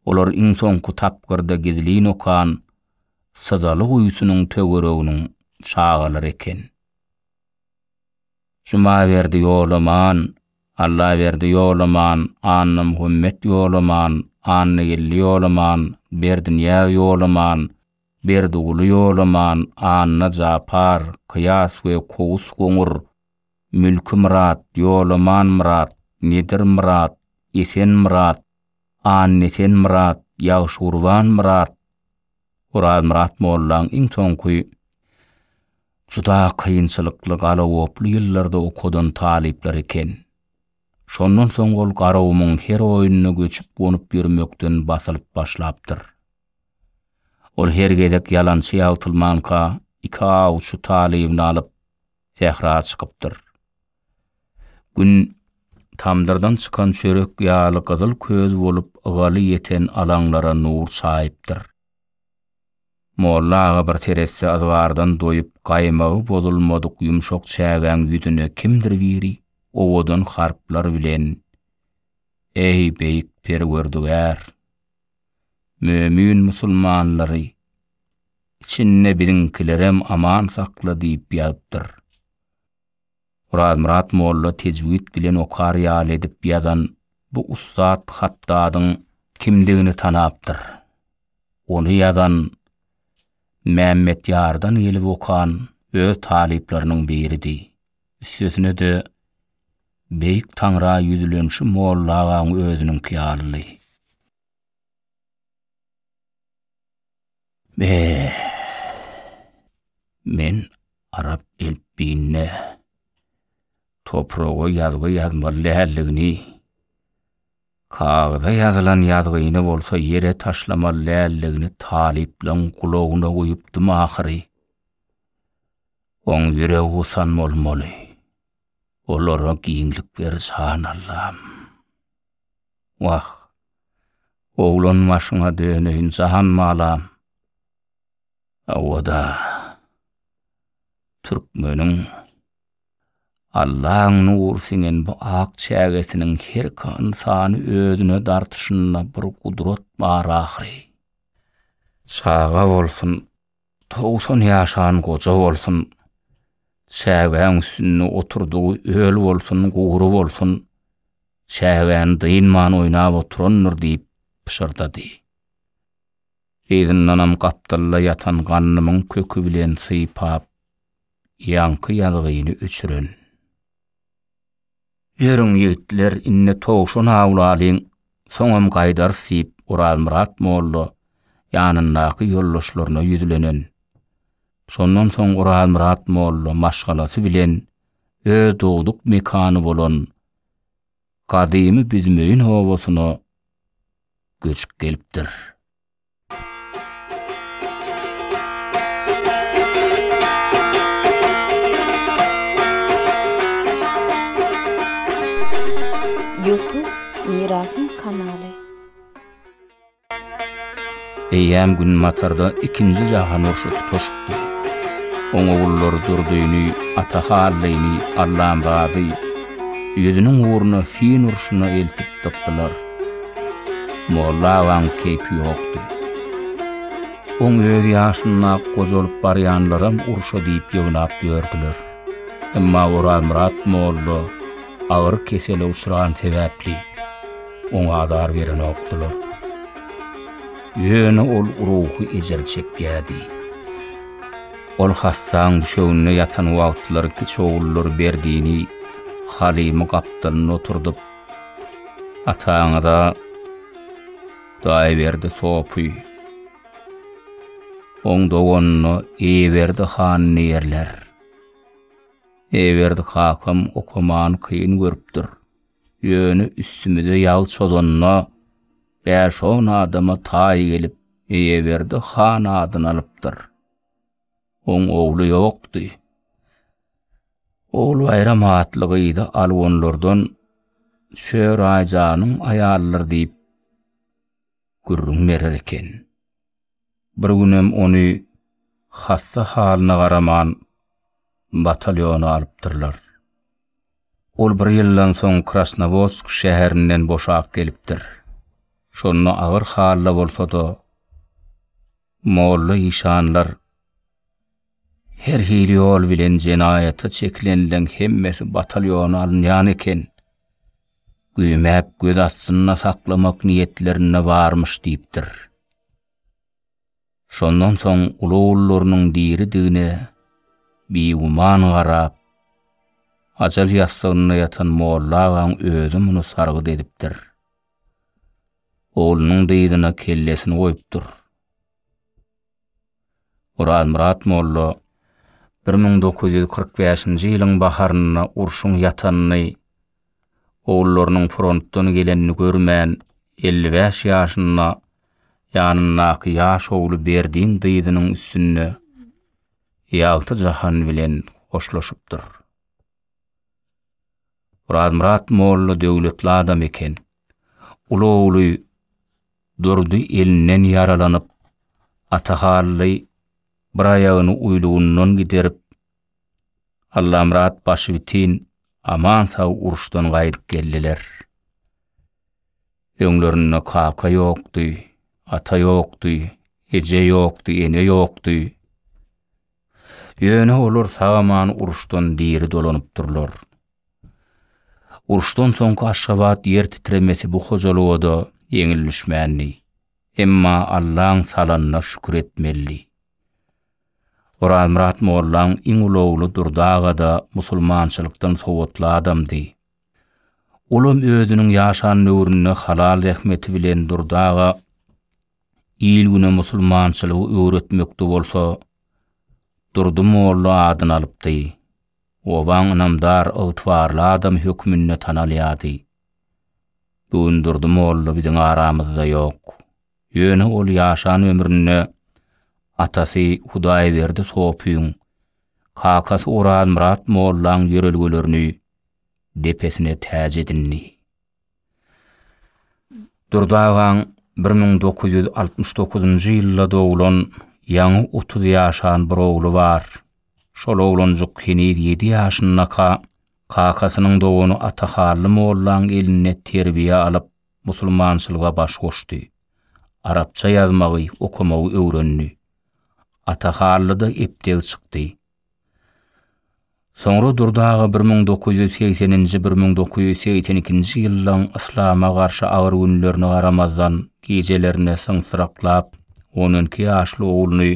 Olar iň soňky tapgyrda gizlin okan Syzaly guýusynyň töwereginiň çagalary eken. Jumaberdi Ýolaman, Allaberdi Ýolaman, Annamuhammet Ýolaman, Annageldi Ýolaman, Berdiniýaz Ýolaman, Berdiguly Ýolaman, Anna Japar, Kyýas we Kowus Goňur, Mülki Myrat, Ýolaman Myrat, Nedir Myrat, Esen Myrat, Annesen Myrat, Ýagşygurban Myrat, Orazmyrat mollaň iň soňky juda kynçylykly galagoply ýyllarda okadan talyplary eken. Şondan soň ol Garagumuň her oýnuna göçüp-gonup ýörmekden basylyp başlapdyr. Ol her gezek ýalançy ýagtylmanka iki awçy talybyny alyp, sähra çykypdyr. Gün tamdyrdan çykan çörek ýaly gyzyl köz bolup ygaly ýeten alaňlara nur çaýypdyr. Molla aga bir seretse yzgardan doýup gaýmagy bozulmadyk ýumşak çägäň ýüzüne kimdir biri owadan harplar bilen Eý, beýik Perwerdigär! Mömün musulmanlary, içinde biziňkilerem aman sakla diýip ýazypdyr. Orazmyrat molla tejwid bilen okar ýaly edip ýazan bu ussat hatdadyň kimdigini tanapdyr. Ony ýazan Mämmetýardan gelip okan öz talyplarynyň biridi. Üstesine-de, Beýik Taňra ýüzlenişi Molla agaň özüniňki ýalydy. Be! Men arap elpbiýinde topraga ýazgy ýazmaly däldigini, kagyza ýazylan ýazgyny bolsa ýere taşlamaly däldigini talyplaň gulagyna guýupdym ahyry. Oň ýüregi gusan bolmaly. Olara giňlik ber, jan Allam. Wah, oglan başyňa döneýin, jan balam. Hawa-da, türkmeniň Allaň nury siňen bu ak çägesiniň herki ynsany özüne dartyşynda bir gudrat bar ahyry. Çaga bolsun, Togsan ýaşan goja bolsun, çägäň üstünde oturdygy öl bolsun, gury bolsun, çägäni dynman oýnap oturandyr diýip pyşyrdady. Yzyndanam gapdalda ýatan gandymyň köki bilen sypap, ýaňky ýazgyny öçüren. Ýörüň, ýigitler, indi towşan awlalyň, soňam gaýdarys, diýip, Orazmyrat molla ýanyndaky ýoldaşlaryna ýüzlenen. Şondan soň Orazmyrat molla maşgalasy bilen öz dogduk mekany bolan gadymy Büzmeýin obasyna göçüp gelipdir. Eýýäm Günbatarda ikinji jahan urşy tutaşypdy. Oň ogullary Durdyny, Ata Hallyny, Allamyraty ýüzüniň ugruna fin urşuna eltip dykdylar. Molla agaň keýpi ýokdy. Oň öz ýaşynda gojalyp barýanlaram urşa diýip ýygnap ýördüler. Emma Orazmyrat molla agyr kesele uçran sebäpli, oňa azar berenokdylar. Ýöne ol ruhy ejir çekýärdi. Ol hassaň düşeginde ýatan wagtlary kiçi ogullary Berdini, Halymy gapdalynda oturdyp, Ataňyza Hudaýberdi sopy, oň doganyna Eýeberdi han diýerler. Eýeberdi kakam okamany kyn görüpdir. Ýöne üstümize ýag çozanda, bäş-on adama taý gelip, Eýeberdi han adyny alypdyr. Oň ogly ýokdy. Ogulbaýram atly gyzy alwanlardan Şöraýjanyň aýalydyr diýip gürrüň berer eken. Bir günem ony hassa halyna garaman batalýona alypdyrlar. Ol bir ýyldan soň Krasnowodsk şäherinden boşap gelipdir. Şonda agyr halda bolsa-da, Molla işanlar Her hili ýol bilen jenaýata çekilenleň hemmesi batalyona alynýan eken. Güýmäp göz astynda saklamak niýetlerinde barmyş diýipdir. Şondan soň ulu-ullarynyň diridigine biguman garap, ajal ýassygynda ýatan molla agaň özi muny sargyt edipdir. oglunyň dyzyna kellesini goýupdyr. Orazmyrat molla bir müň dokuz ýüz kyrk bäşinji ýylyň baharynda urşuň ýatanyny, ogullarynyň frontdan gelenini görmän, elli bäş ýaşynda ýanyndaky ýaş ogly Berdiň dyzynyň üstünde ýagty jahan bilen hoşlaşypdyr. Orazmyrat molla döwletli adam eken. Uly ogly Durdy elinden ýaralanyp, Ata Hally bir aýagyny uýlugyndan giderip, Allamyrat başbitin aman-sag uruşdan gaýdyp geldiler. Öňlerinde kaka ýokdy, ata ýokdy, eje ýokdy, ene ýokdy. Ýöne olar sag-aman uruşdan diri dolanypdyrlar. Uruşdan soňky Aşgabat ýer titremesi bu hojalyga-da ýeňil düşmändi. Emma Allaň salanyna şükür etmelidi. Orazmyrat mollaň iň ulagly Durdy aga-da musulmançylykdan sowatly adamdy. Olam özüniň ýaşan döwründe halal zähmeti bilen Durdy aga il-güne musulmançylygy öwretmekde bolsa Durdy molla adyny alypdy. Obaň ynamdar, ygtybarly adamy hökmünde tanalýardy. Bu gün Durdy molla biziň aramyzda ýok. Ýöne ol ýaşan ömründe atasy Hudaýberdi sopyň, kakasy Orazmyrat mollaň ýörelgelerini depesine täç edindi. Durdy agaň bir müň dokuz ýüz altmyş dokuzynjy ýylda doglan ýaňy otuz ýaşan bir ogly bar. Şol oglanjyk heniz ýedi ýaşyndaka kakasynyň dogany Atahally mollaň elinde terbiýe alyp, musulmançylyga baş goşdy. Arapça ýazmagy, okamagy öwrendi. Atahallyda epdeg çykdy. Soňra Durdy aga bir müň dokuz ýüz segseninji-bir müň dokuz ýüz segsen ikinji ýyllaryň yslama garşy agyr günlerine garamazdan, gijelerine syňsyraklap, on iki ýaşly ogluny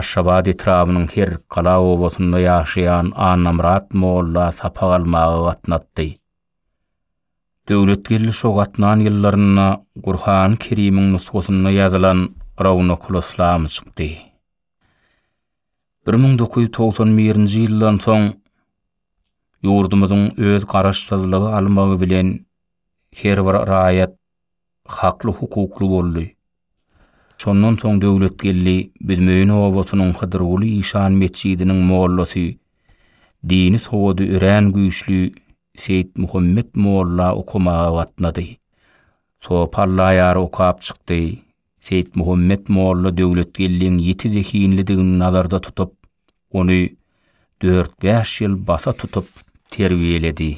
Aşgabat etrabynyň Herikgala obasynda ýaşaýan Annamyrat molla sapak almaga gatnatdy. Döwletgeldi şo gatnan ýyllarynda Gurhany Kerimiň nusgasynda ýazylan Rownakul-Yslam çykdy. Bir müň dokuz ýüz togsan birinji ýyldan soň ýurdumyzyň öz garaşsyzlygy almagy bilen her bir raýat hakly hukukly boldy. Şondan soň Döwletgeldi Büzmeýin obasynyň Hydyrguly işan metjidiniň mollasy, dini sowady örän güýçli Seýitmuhammet molla okamaga gatnady. Sopy allaýar okap çykdy. Seýitmuhammet molla Döwletgeldiň ýiti zehinlidigini nazarda tutup, ony dört-bäş ýyl basa tutup terbiýeledi.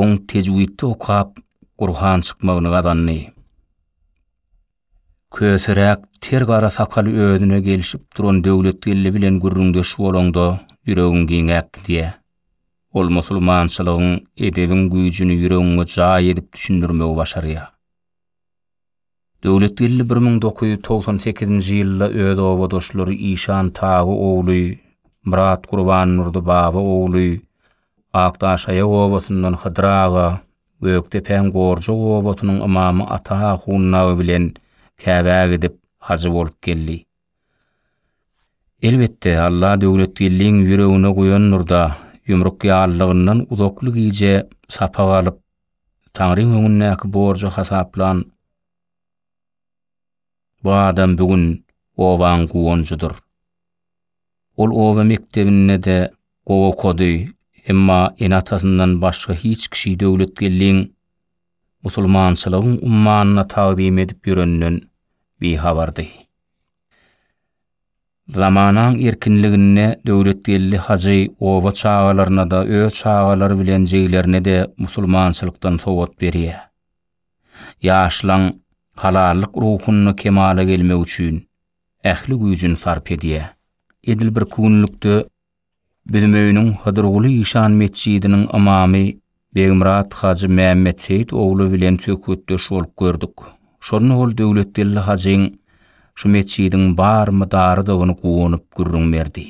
Oň tejwidde okap, Gurhan çykmagyny gazandy. Köseräk ter gara sakaly özüne gelşip duran Döwletgeldi bilen gürrüňdeş bolaňda ýüregiň giňäp gidýär. Ol musulmançylygyň, edebiň güýjüni ýüregiňe jaý edip düşündirmegi başarýar. Döwletgeldi bir müň dokuz ýüz togsan sekizinji ýylda öz obadaşlary Işan Tagy ogly, Myrat Gurbandurdy Baba ogly, Akdaşaýak obasyndan Hydyr aga, Gökdepäň Gorjak obasynyň ymamy Ata ahun Nagy bilen Käbä gidip, hajy bolup geldi. Elbetde, Alla Döwletgeldiň ýüregine guýandyr-da, ýumruk ýalylygyndan uzakly gije sapak alyp, Taňryň öňündäki borjy hasaplan bu adam bu gün obaň guwanjydyr. Ol oba mekdebinde-de gowy okady, emma ene-atasyndan başga hiç kişi Döwletgeldiň musulmançylygyň ummanyna tagzym edip ýöreninden bihabardy. Zamanaň erkinliginde Döwletgeldi hajy oba çagalaryna-da, öz çagalary bilen jiglerine-de musulmançylykdan sowat berýär. Ýaşlaň halallyk ruhunda kemala gelmegi üçin ähli güýjüni sarp edýär. Edil bir künlükde, Bilim öýüniň Hydyrguly işan metjidiniň ymamy Begmyrat hajy Mämmetseýit ogly bilen söhbetdeş bolup gördük. Şonda ol Döwletgeldi hajyň şu metjidiň bar mydarydygyny guwanyp gürrüň berdi.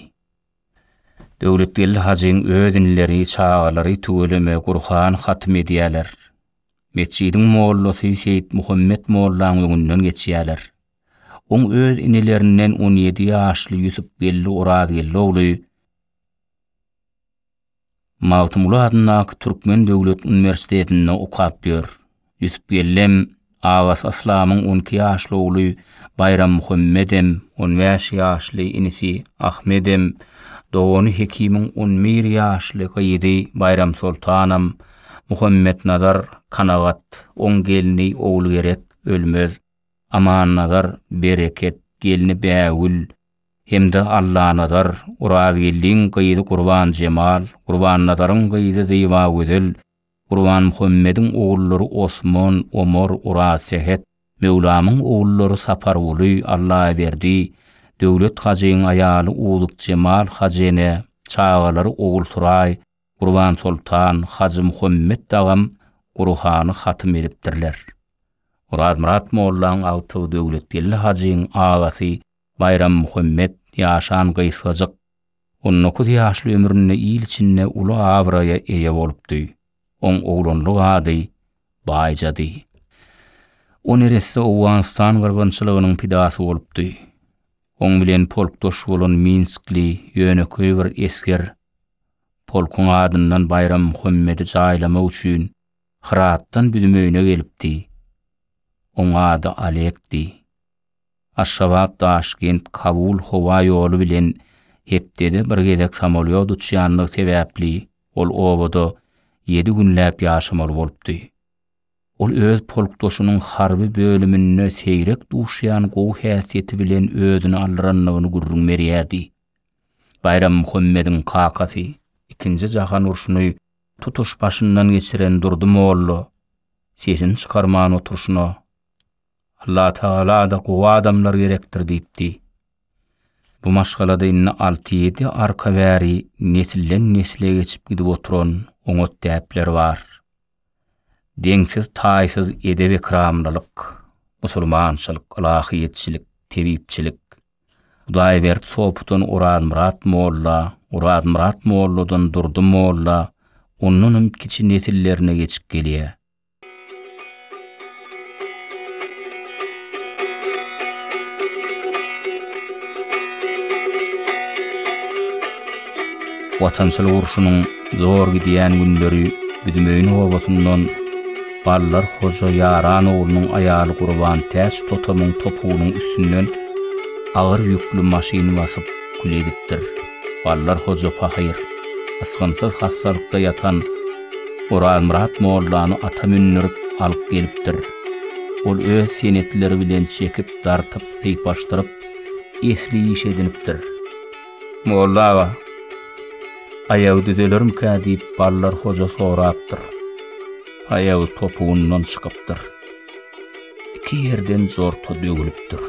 Döwletgeldi hajyň öz inleri, çagalary tüweleme Gurhan hatym edýärler. Metjidiň mollasy Seýitmuhammet mollaň öňünden geçýärler. Oň öz inilerinden on ýedi ýaşly Ýusupgeldi Orazgeldi ogly Magtymguly adyndaky Türkmen döwlet uniwersitetinde okap ýör. Ýusupgeldem agasy Yslamyň on iki ýaşly ogly Baýrammuhammedem, on bäş ýaşly inisi Ahmedem, dogany Hekimiň on bir ýaşly gyzy Baýramsoltanam, Muhammetnazar, Kanagat, oň gelni Ogulgerek, Ölmez. Amannazar, Bereket, gelni Bägül hem-de Allanazar, Orazgeldiň gyzy Gurbanjemal, Gurbannazaryň gyzy Zybagözel, Gurbanmuhammediň ogullary Osman, Omar, Orazsähet, Möwlamyň ogullary Saparguly, Allaberdi, Döwlet hajyň aýaly Uzukjemal hajene, çagalary Ogulsuraý, Gurbansoltan, Hajymuhammet agam Gurhany hatym edipdirler. Orazmyrat mollaň agtygy Döwletgeldi hajyň agasy Baýrammuhammet ýaşan gysgajyk on dokuz ýaşly ömründe il içinde uly abraýa eýe bolupdy. Oň oglanlyk ady Baýjady. O neresse Owganystan gyrgynçylygynyň pidasy bolupdy. Oň bilen polkdaş bolan minskli ýönekeý bir esger Polkuň adyndan Baýram Muhammedi jaýlamak üçin Hyratdan biziň öýüne gelipdi. Oň ady Alekdi. Aşgabat, Daşkent, Kabul howa ýoly bilen hepdede bir gezek samolýot uçýandygy sebäpli ol obada ýedi günläp ýaşamaly bolupdy. Ol öz polkdaşynyň harby bölüminde seýrek duşýan gowy häsiýeti bilen özüni aldyrandygyny gürrüň berýärdi. Baýram Muhammediň kakasy, ikinji jahan urşuny tutuş başyndan geçiren Durdy molla sesini çykarman oturşyna, Allatagala-da gowy adamlar gerekdir diýipdi. Bu maşgalada indi alty-ýedi arka bäri nesilden-nesle geçip gidip oturan oňat däpler bar. Deňsiz-taýsyz edep-ekramlylyk, musulmançylyk, ylahyýetçilik, tebipçilik. Hudaýberdi Sopudan Orazmyrat molla, Orazmyrat molladan Durdy molla, ondan hem kiçi nesillerine geçip gelýär. Watançylyk urşunyň zor gidýän günleri Büdümeýin obasyndan, Ballar Hoja Ýaran oglunyň aýaly Gurban Täç totamyň topugynyň üstünden agyr ýükli maşyn basyp, kül edipdir. Ballar Hoja pahyr, ysgynsyz hassalykda ýatan Orazmyrat mollany ata mündürip, alyp gelipdir. Ol öz senetleri bilen çekip, dartyp, sypaşdyryp, esli iş edinipdir. Molla aga, aýagy düzelermikä diýip Ballar hoja sorapdyr. Aýagy topugyndan çykypdyr. Iki ýerden jorta döwülipdir.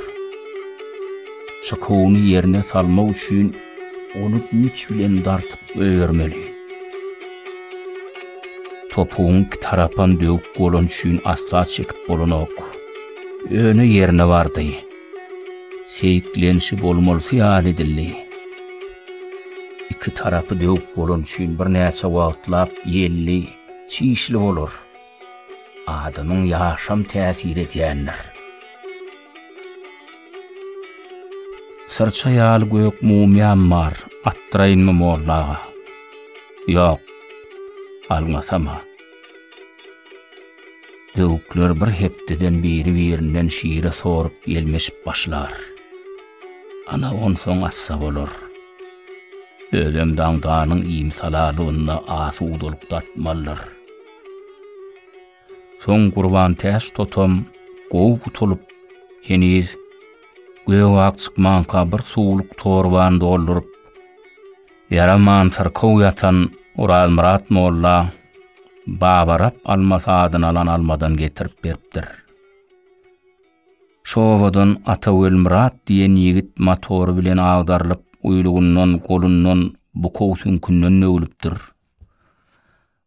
Çykuwyny ýerine salmak üçin ony güýç bilen dartyp goýbermeli. Topugyň iki tarapan döwük bolany üçin asla çekip bolanok. Ýöne ýerine bardy. Seýiklenişi bolmalysy ýaly edildi. Iki tarapy döwük bolany üçin birnäçe wagtlap ýelli, çişli bolar. Adamyň ýaşam täsir edýändir. Syrça ýaly gök mumyam bar, atdyraýynmy molla aga? Ýok, alňasama. Döwükler bir hepdeden biri-birinden şire sorup ýelmeşip başlar. Ana onsoň assa bolar. Özem daňdanyň iýmit-halalygynda asudalyk datmaldyr. Soň Gurbantäç totam gowy gutulyp, heniz gök-ak çykmanka bir suwluk torbany dolduryp, ýaraman syrkaw ýatan Orazmyrat molla Baba Rap almasy adyny alan almadan getirip beripdir. Şu obadan Ata Welmyrat diýen ýigit motory bilen agdarylyp, uýlugyndan, golundan, bukaw süňkünden döwülipdir.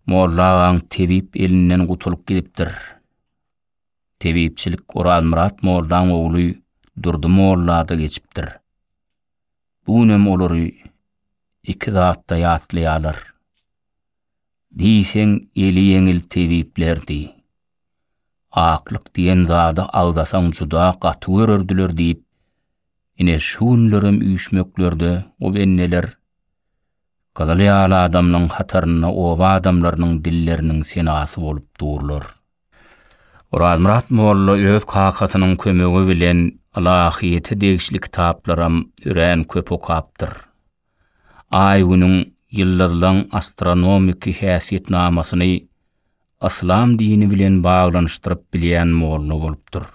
Molla agaň tebip elinden gutulyp gidipdir. Tebipçilik Orazmyrat mollaň ogly Durdy mollada geçipdir. Bu günem olary iki zatda ýatlaýarlar. Diýseň eli ýeňil tebiplerdi. Aklyk diýen zady agzasaň juda gaty görerdiler diýip, ine şu günlerem üýşmeklerde o benneler. Gyzyl ýaly adamlaň hatarynda oba adamlarynyň dilleriniň senasy bolup durlar. Orazmyrat molla öz kakasynyň kömegi bilen ylahyýete degişli kitaplaram örän köp okapdyr. Aý-Günüň, ýyldyzlaň astronomiki häsiýetnamasyny yslam dini bilen baglanyşdyryp bilýän molla bolupdyr.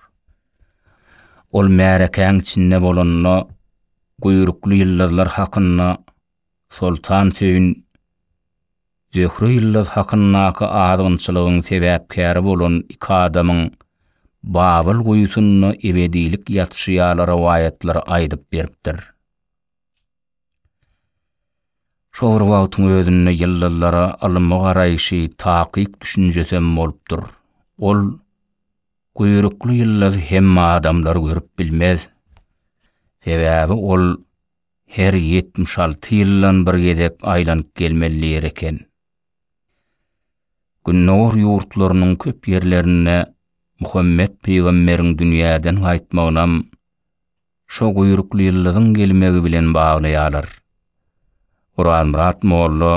Ol märekäň içinde bolanda Guýrukly ýyldyzlar hakynda Soltan Söýün, Zöhre ýyldyz hakyndaky azgynçylygyň sebäpkäri bolan iki adamyň Babyl guýusynda ebedilik ýatyşy ýaly rowaýatlary aýdyp beripdir. Şo bir wagtyň özünde ýyldyzlara ylmy garaýşy, takyk düşünjesem bolupdyr. Ol guýrukly ýyldyzy hemme adamlar görüp bilmez. Sebäbi ol her 76 ýyldan bir gezek aýlanyp gelmeli ýer eken. Gündogar ýurtlarynyň köp ýerlerinde Muhammet pygamberiň dünýäden gaýtmagynam şo guýrukly ýyldyzyň gelmegi bilen baglaýarlar. Orazmyrat molla,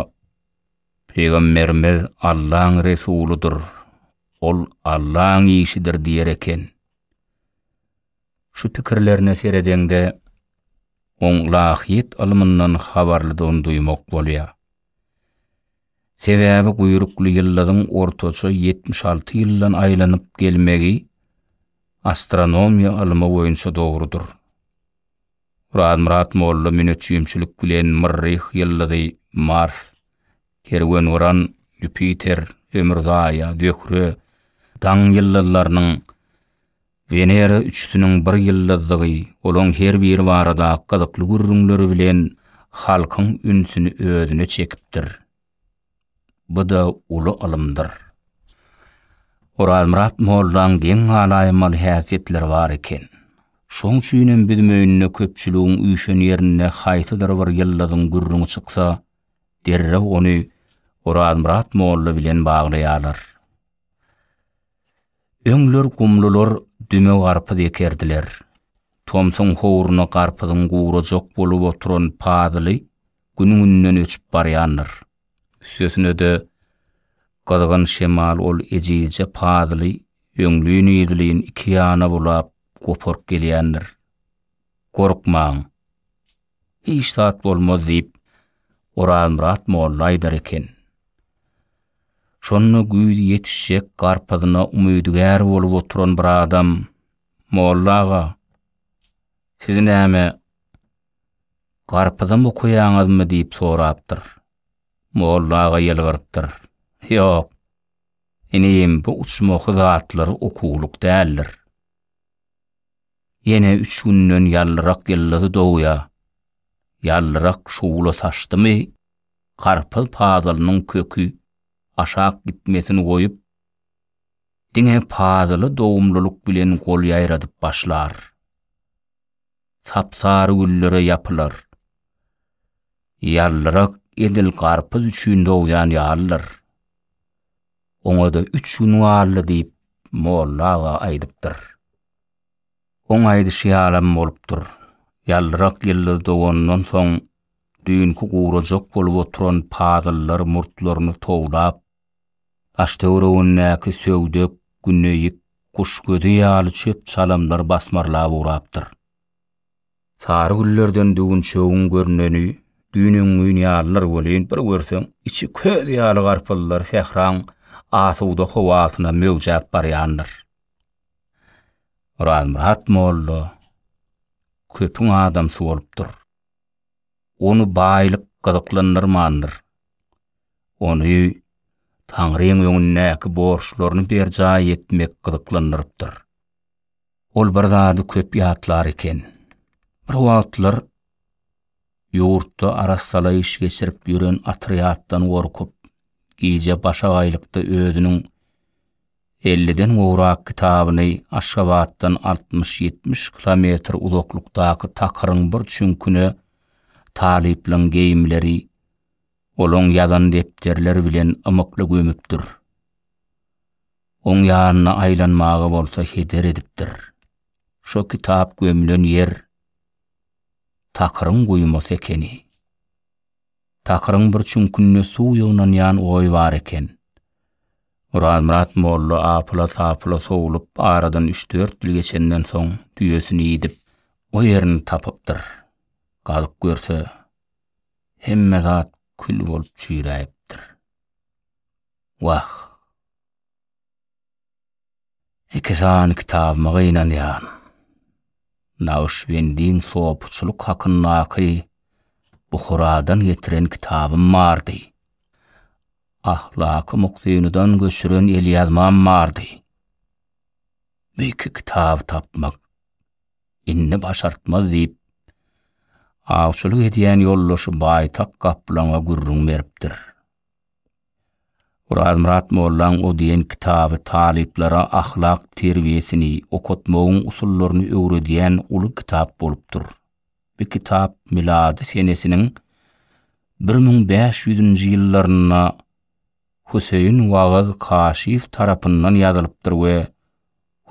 Pygamberimiz Allaň Resulydyr, ol Allaň işidir diýer eken. Şu pikirlerine seredeňde, oň ylahyýet ylmyndan habarlydygyny duýmak bolýar. Sebäbi guýrukly ýyldyzyň ortaça 76 ýyldan aýlanyp gelmegi astronomiýa ylmy boýunça dogrudyr. Urazmyrat molla müneçjimçilik bilen Myrryh ýyldyzy, Mars, Kerwengyran, Ýupiter, Ömürzaýa, Zöhre, Daň ýyldyzlarynyň Wenera üçüsiniň bir ýyldyzdygy, olaň her biri barada gyzykly gürrüňleri bilen halkyň ünsüni özüne çekipdir. Bu-da uly ylymdyr. Orazmyrat mollaň geň galaýmaly häsiýetleri bar eken. Şoň üçin hem biz möýünde köpçüligiň üýşen ýerinde haýsydyr bir ýyldyzyň gürrüňi çyksa, derrew ony Orazmyrat molla bilen baglaýarlar. Öňler gumlular düme garpyz ekerdiler. Tomsuň howruna garpyzyň gurajak bolup oturan pazyly gün-günden öçüp barýandyr. Üstesine-de, gyzgyn şemal ol ejizje pazyly öňlin-yzlyn iki ýana bulap, goparyp gelýändir. Gorkmaň, hiç zat bolmaz diýip, Orazmyrat molla aýdar eken. Şonda güýz ýetişjek garpyzyna umydygär bolup oturan bir adam, Molla aga, siz näme, garpyzam okaýaňyzmy diýip sorapdyr. Molla aga ýylgyrypdyr. Ýok, inim, bu uçmaky zatlar okuwlyk däldir. Ýene üç günden ýallyrak ýyldyz dogýar. Ýallyrak şugla saçdymy, garpyz pazylynyň köki aşak gitmesini goýup, diňe pazyly dogumlylyk bilen gol ýaýradyp başlar. Sap-sary güllere ýapylar. Ýallyrak edil garpyz üçin dogýan ýalydyr. Oňa-da üç gün galdy diýip, molla aga aýdypdyr. Oň aýdyşy ýalam bolupdyr. Ýaldyrak ýyldyz dogandan soň, düýnki gurajak bolup oturan pazyllar murtlaryny towlap, daş-töweregindäki söwdek, güneýik, guş gözi ýaly çöp-çalamlar basmarlap ugrapdyr. Sary güllerden düwünçegiň görneni düýn-öňňin ýalydyr welin, bir görseň, içi köz ýaly garpyzlar sähraň asuda howasyna möwjäp barýandyr. Orazmyrat molla köpüň adamsy bolupdyr. Ony baýlyk gyzyklandyrmandyr. Ony Taňryň öňündäki borçlaryny berjaý etmek gyzyklandyrypdyr. Ol bir zady köp ýatlar eken. Bir wagtlar Ýurtda arassalaýyş geçirip ýören otrýaddan gorkup, gije başagaýlykda özüniň elliden gowrak kitabyny Aşgabatdan altmyş-ýetmiş kilometr uzaklykdaky takyryň bir çüňküne talyplaň geýimleri, olaň ýazan depderleri bilen ymykly gömüpdir. Oň ýanyna aýlanmaga bolsa heder edipdir. Şo kitap gömlen ýer Takyryň guýmasy ekeni. Takyryň bir çüňkünde suw ýygnanýan goý bar eken. Orazmyrat molla apyla-sapyla sowlup aradan üç-dört ýyl geçenden soň düýesini idip, o ýerini tapypdyr. Gazyp görse, hemme zat kül bolup çüýräýipdir. Wah! Iki sany kitabyma gynanýan. Nagşybendiň sopuçylyk hakyndaky Buharadan getiren kitabym bardy. Ahlaky Muktynydan göçüren elýazmam bardy. Bu iki kitaby tapmak indi başartmaz diýip, awçylyk edýän ýoldaşy Baýtak gaplaňa gürrüň beripdir. Orazmyrat mollaň o diýen kitaby talyplara ahlak terbiýesini, okatmagyň usullaryny öwredýän uly kitap bolupdyr. Bu kitap milady senesiniň bir müň bäş ýüzünji ýyllarynda Huseýin Wagyz Kaşif tarapyndan ýazylypdyr we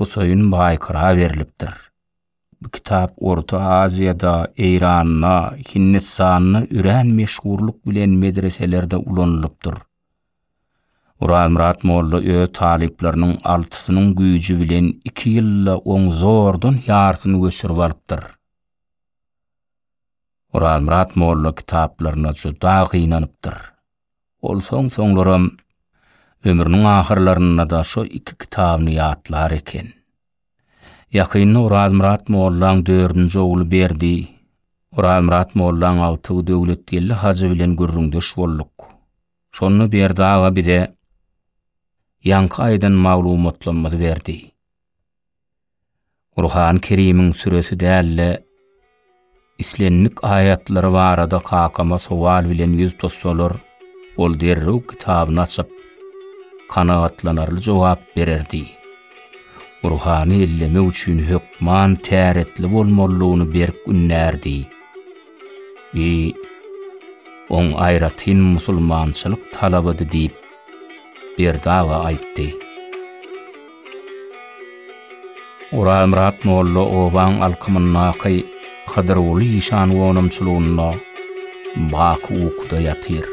Huseýin Baýkyra berlipdir. Bu kitap Orta Aziýada, Eýranda, Hindistanda örän meşhurlyk bilen medreselerde ulanylypdyr. Orazmyrat molla öz talyplarynyň altysynyň güýji bilen iki ýylda oň zordan ýarsyny göçürip alypdyr. Orazmyrat molla kitaplaryna juda gynanypdyr. Ol soň-soňlaram ömrüniň ahyrlarynda-da şo iki kitabyny ýatlar eken. Ýakynda Orazmyrat mollaň dördünji ogly Berdi, Orazmyrat mollaň agtygy Döwletgeldi hajy bilen gürrüňdeş bolduk. Şonda Berdi aga bize ýaňky aýdan maglumatlarymyzy berdi. Gurhany Kerimiň süresi däl-de, Islendik aýatlary barada kakama sowal bilen ýüz tutsalar, ol derrew kitabyny açyp, kanagatlanarly jogap bererdi. Gurhany ellemek üçin hökman täretli bolmalydygyny berk ündärdi. Bi, oň aýratyn musulmançylyk talabydy diýip, Berdi aga aýtdy. Oralmyrat molla obaň alkymyndaky Hydyrguly işan gonamçylygynda baky ukuda ýatyr.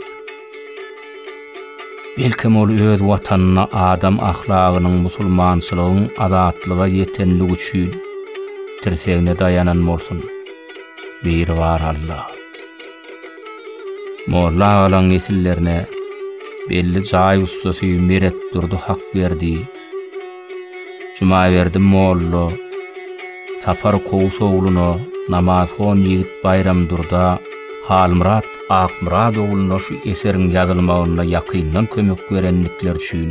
Belkem ol öz watanyna adam ahlagynyň musulmançylygyň azatlyga ýetenligi üçin tirsegine daýanan bolsun. Biri bar Alla. Molla agalaň nesillerine belli jaý ussasy Meretdurdy Hakberdi, Jumaberdi molla, Sapar Kowus ogluna, namazhon ýigit Baýramdurda, Halmyrat Akmyrat ogluna şu eseriň ýazylmagynda ýakyndan kömek berendikleri üçin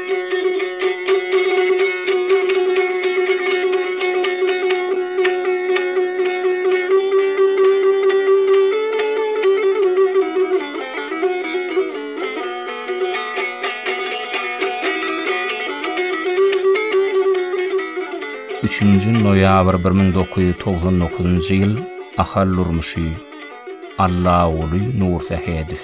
Üçünji noýabr bir müň dokuz ýüz togsan dokuzynjy ýyl Ahal durmuşy Allaguly Nursähedow.